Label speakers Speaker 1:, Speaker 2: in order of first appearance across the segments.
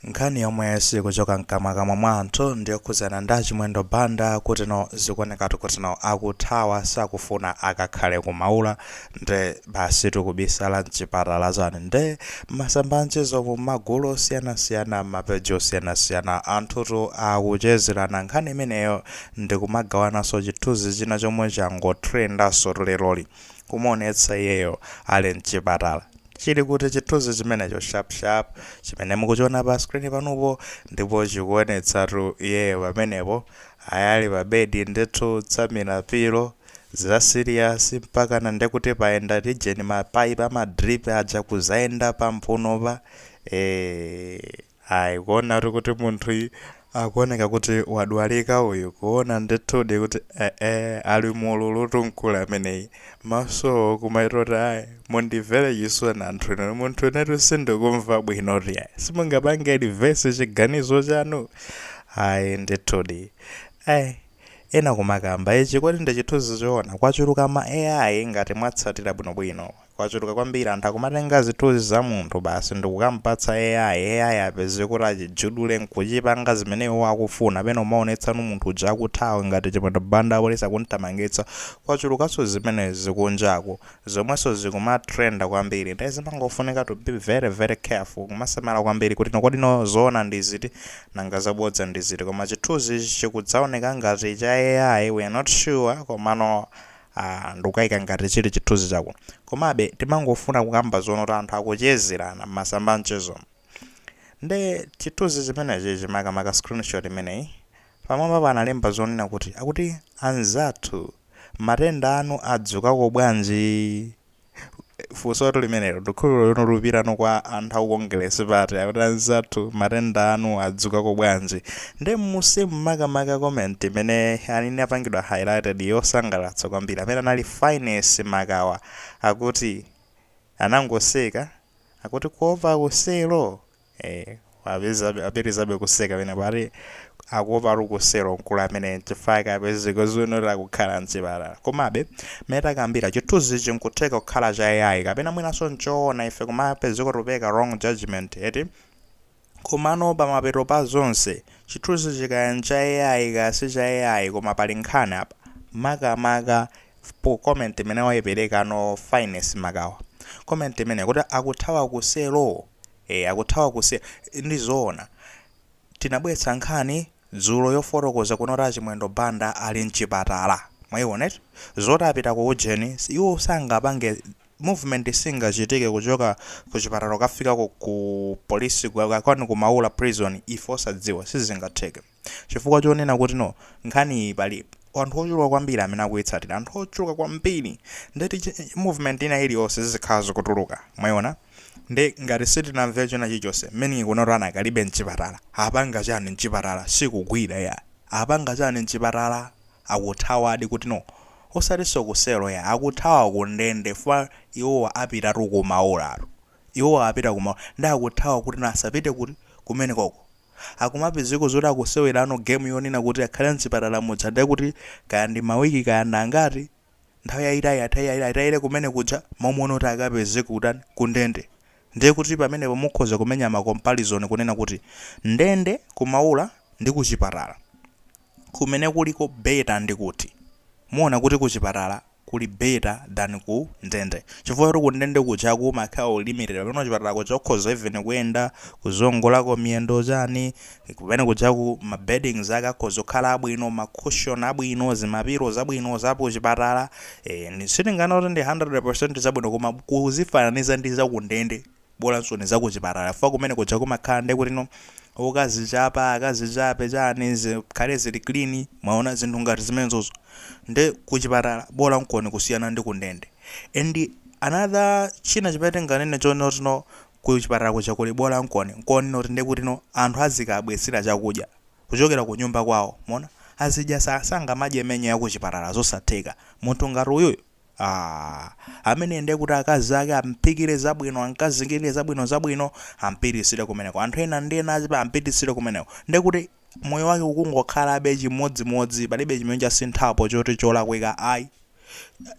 Speaker 1: Nkhani yomwe siikuchoka mkamwakamwa mwa anthu ndiyokhudzana ndi a Chimwendo Banda kuti no zikuonekatu kuti no akuthawa sakufuna akakhale ku Maula nde basitu kubisala mchipatala chani nde mmasamba a mchezomu mmagulu osiyanasiyana mmapeji osiyanasiyana anthutu akuchezerana nkhani imeneyo ndikumagawananso chithunzi china chomwe changotrendansotu leroli kumuonetsa iyeyo ali mchipatala Chili kuti chithunzi chimenecho sharp sharp chimene mukuchiona pa screen panupo ndipo chikuonetsatu iyeyo pamenepo ayi ali pa bed ndithu kutsamira pillow za serious mpakana nde kuti payenda tijeni ma pipe ama drip aja kudzayenda pa mphunopa ee Ayi, kuonatu kuti munthuyu akuoneka kuti wadwalika uyu, kuona ndithudi kuti ee ali mu ululutu mkulu ameneyi. Maso kumayetu kuti ayi, mundimvere chisoni anthu inu, munthu inetu sindikumva bwinotu yayi. Simungapange reverse chiganizo chanu? Ayi ndithudi. Ee, ena kumakamba ichi kodi ndi chithunzi choona, kwachuluka ma AI ngati mwatsatira bwinobwino. Kwachuluka kwambiri anthu akumatenga zithunzi za munthu basi ndikukamupatsa AI, AI apeze kuti achijudule nkuchipanga zimene iwowo akufuna, pena kumaonetsano munthu uja akuthawa ngati Chimwendo Banda apolisi akumthamangitsa, kwachulukanso zimenezi kunjaku, zomwenso zikumatrenda kwambiri, nde zimangofunika to be very very careful, kumasamala kwambiri kuti no kodi no zoona ndi ziti nanga zabodza ndi ziti, koma chithunzichi chikudzaoneka ngati cha AI we are not sure komano. Aaa ndikukaika ngati chili chithunzi chako. Komabe timangofuna kukamba zonena kuti anthu akuchezerana m'masamba a mchezomu. Nde chithunzi chimenechichi makamaka screenshot imeneyi, pamwambapo analemba zonena kuti, akuti anzathu matenda anu adzukako bwanji? funsotu limenelo ndikhulupirira kuti likupitano kwa anthu aku kongelesi pati akuti anzathu matenda anu adzukako bwanji nde mmusimu makamaka comment imene yani inapangidwa highlighted yosangalatsa kwambiri amene anali Fyness Makawa akuti anangoseka akuti kuopa ku selo Eeh apitilizabe kuseka pena pati akuopatu ku selo mkulu ameneyi nchifukwa chake apezeka zonena zokhala mchipatala. Komabe mmene takambira chithunzichi nkutheka kukhala cha AI kapena mwinanso nchoona ife kumapezeka tikupeleka wrong judgement eti? Komano pamapeto pa zonse, chithunzichi kaya ncha AI kaya si cha AI koma pali nkhani apa, makamaka po comment imene waipereka no Fyness Makawa. Comment imeneyi kuti akuthawa ku selo? Eee akuthawa ku selo ndi zoona tinabwetsa nkhani dzulo yofotokoza kunena kuti a Chimwendo Banda ali mchipatala mwaiona eti zoti apita ku ujeni iwo sangapange movement singachitike kuchoka ku chipatala kukafika ku ku police kwanu ku Maula prison ife osadziwa sizingatheke. Chifukwa chonena kuti no, nkhani iyi pali anthu ochuluka kwambiri amene akuitsatira, anthu ochuluka kwambiri. Nde kuti movement ina iliyonse zizikhala zikutuluka. Mwaiona? Nde ngati sitinamve china chilichonse, meaning kunoti anakalibe m'chipatala. Apanga chani m'chipatala? Sikugwira iyayi. Apanga chani m'chipatala? Akuthawadi kuti no. Osatinso ku selo iyayi, akuthawa ku ndende fukwa iwowa apitatu ku maulatu. Iwowa apita ku maula. Nde akuthawa kuti no asapite kuti? Kumenekoko. akumapezeko zoti akusewerano game yonena kuti akhale mzipatala muja nde kuti kaya ndi mawiki kaya ndi angati nthawi yayitali atayire kumene kuja mmalo monena kuti akapezeke kutani ku ndende ndiye kuti pamenepo mukhoza kumenya ma comparison kunena kuti ndende kumaula ndi kuchipatala kumene kuliko better ndi kuti muona kuti kuchipatala kuli better than ku ndende chifukwa choti ku ndende kujaku umakhala uli limited pamene kuchipatala kuja ukhoza even kuyenda kuziongolako miyendo chani kumene kujaku ma beddings ake akhoza kukhala abwino ma cushion abwino zimapiro zabwino za kuchipatala eh, ni- sitinganene kuti ndi 100% zabwino koma kuzifananiza ndi za ku ndende bolansoni zakuchipatala chifukwa kumene kuja kumakhala nde kuti no ukazichapa akazichape chani zikhale zili clean mwaona zinthu ngati zimenezozo nde kuchipatala bolankoni kusiyana ndi kundende and another china chimene tinganene chonena kuti no kuchipatala kuja kuli bolankoni nkonena kuti nde kuti no anthu azikawabwetsera chakudya kuchokera kunyumba kwawo mwaona azidya sa sangamadye menu yakuchipatala zosatheka munthu ngati uyuyu Aaa ameneyi ndiye kuti akazi ake amphikire zabwino, amkazingirire zabwino zabwino, ampititsire kumeneko. Anthu ena ndi ena azipa ampititsire kumeneko. Ndiye kuti moyo wake ukungokhalabe chimodzimodzi, palibe chimene chasinthapo choti cholakwika ayi.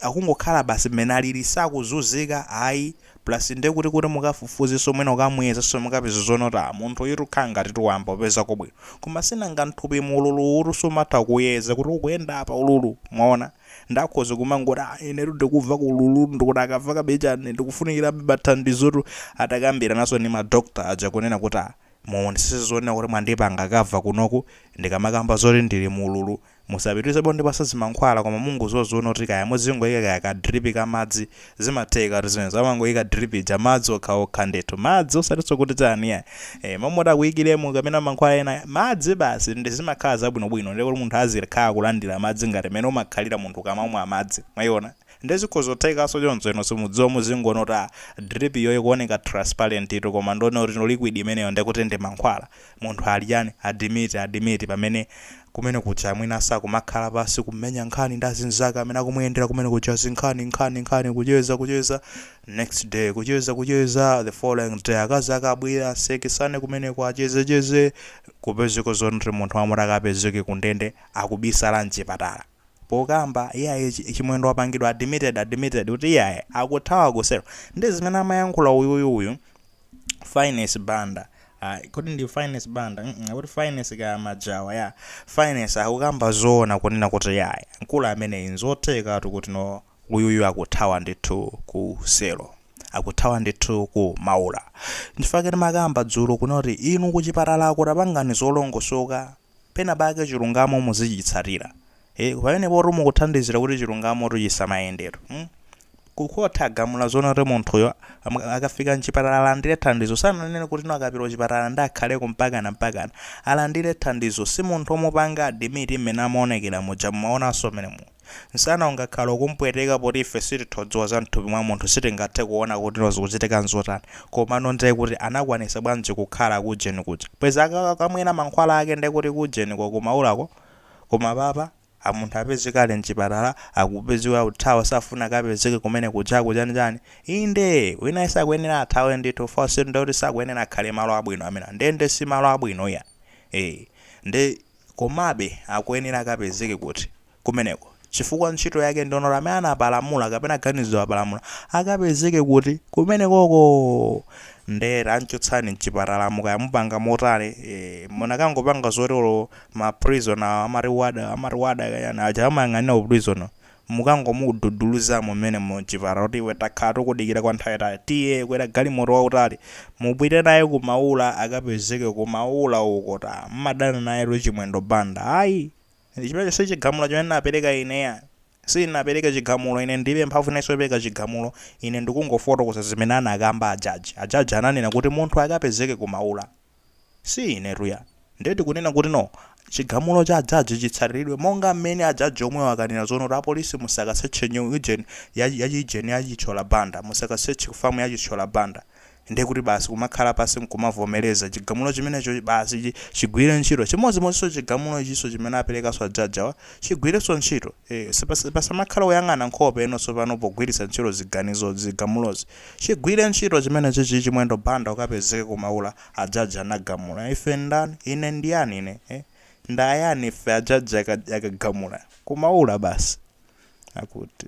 Speaker 1: Akungokhala basi mmene alili, sakuzunzika ayi. Plus ndiye kuti kuti mukafufuzenso mwina ukamuyezenso mukapeza zonena kuti ah munthu uyutu kukhala ngatitu wayamba kupezako bwino. Koma sinanga m'thupimu ululuwutu sumatha kuuyeza kuti ukuyenda apa ululu, mwaona? Nde akhoza kumangoti, ah, inetu ndikumvako ululu, ndikuti akamva kabe chani, ndikufunikirabe thandizotu. Atakambirananso ndi ma doctor aja kunena kuti, ah, muonesese zonena kuti mwandipanga cover kunoku ndikamakamba zoti ndili mu ululu. Musapitirizebe kundipatsa zimankhwala koma mungoziwa zonena kuti kaya muzingoika kaya ka drip ka madzi zimathekatu zimenezo amangoyika drip ya madzi okhaokha ndithu madzi osatinso kuti chani iyayi eh, momwe akuyikiremo kapena mankhwala ena madzi basi ndi zimakhala zabwinobwino ndiye kuti munthu azikhala kulandira madzi ngati mmene umakhalira munthu ukamamwa madzi mwayiona ndiye zikhoza kuthekanso choncho ino simudziwa muzingoona kuti ah, drip iyo ikuoneka transparent itu koma nde kuti no liquid imeneyo ndiye kuti ndi mankhwala Munthu ali chani? Admit, admit pamene kumene kuja mwina sakumakhala pansi kumenya nkhani ndi azinzake amene akumuyendera kumene kuja zinkhani nkhani nkhani kucheza kucheza next day kucheza kucheza the following day akazi ake abwere asekesane kumeneko acheze cheze kupezeka zoti munthu woti akapezeke kundende akubisala mchipatala pokamba iyayi chi chimwendo wapangidwa admitted admitted kuti iyayi akuthawa ku selo ndi zimene amayankhula uyuyu uyu finest banda Ah, kodi ndi finest banda mm -mm, kuti finest ka majawa ya finest akukamba zoona kunena kuti iyayi mkulu ameneyi nzothekatu kuti no uyuyu akuthawa ndithu ku selo akuthawa ndithu ku maula nchifukwa timakamba dzulo kunena kuti inu kuchipatala uko tapangani zolongosoka penapake chilungamo muzichitsatira eh pamenepotu mukuthandizira kuti chilungamotu chisamayendetu mm? ku court agamula zoona kuti munthuyo am- akafika mchipatala alandire thandizo sananene kuti no akapita kuchipatala nde akhaleko mpakana mpakana alandire thandizo si munthu omupanga adimiti mmene amaonekera muja mumaonanso mmene mu Nsana ungakhale ukumpweteka poti ife sitithodziwa za mthupi mwa munthu sitingathe kuona kuti no zikuchitika nzotani komano nde kuti anakwanisa bwanji kukhala kujeni kuja bwezi akakamwera mankhwala ake nde kuti kujeni ko kumaulako koma apapa munthu apezeka ali mchipatala akupezeka kuthawa sakufuna akapezeke kumene kujaku chani chani inde wina sakuyenera athawe ndithu fosek ndekuti sakuyenera akhale malo abwino amenewa ndende simalo abwino iyayi ee nde Komabe, akuyenera akapezeke kuti, kumeneko, chifukwa ntchito yake ndi yolanga amene anapalamula kapena ganizo wapalamula, akapezeke kuti, kumenekoko! Nde tanchotsani mchipatalamo kaya mupanga motani, eeh, munakangopanga zoti olo ma prison awo, amati warder, amati warder kachani, aja amayang'anira ku prison wo, mukangomududuluzamo mmenemo mchipatala kuti iwe takhala tikudikira kwa nthawi yayitali tiye kwera galimoto wautali mupite naye ku maula akapezeke ku maula uko aa mumadana nayetu chimwendo banda ayi chimenecho si chigamulo chimene ndinapereka ine iyayi sindinapereke chigamulo ine ndilibe mphamvu inanso yopereka chigamulo ine ndikungofotokoza zimene anakamba ajaji ajaji ananena kuti munthu akapezeke ku maula Si inetu ya. Ndiye tikunena kuti no, chigamulo cha ajaji chitsatiridwe monga mmene ajaji omwewo akanena zoona kuti apolisi musakasearche nyu, ujeni, ya, ya chi ujeni ya Chithyola Banda, musakasearche ku farm ya Chithyola Banda. Ndiye kuti basi kumakhala pansi nkumavomereza chigamulo chimenecho basi chi, chigwire ntchito. Chimodzimodzinso chigamulo ichinso chimene aperekanso ajaji awa chigwirenso ntchito. Eeh, sipasa, pasamakhale kuyang'ana nkhope inu tsopano pogwiritsa ntchito ziganizo, zigamulozi. Chigwire ntchito chimene chichi Chimwendo Banda ukapezeke ku maula ajaji anagamula ife ndani ine ndiyani ine eh? ndayani ife ajaji akagamula ku maula basi akuti.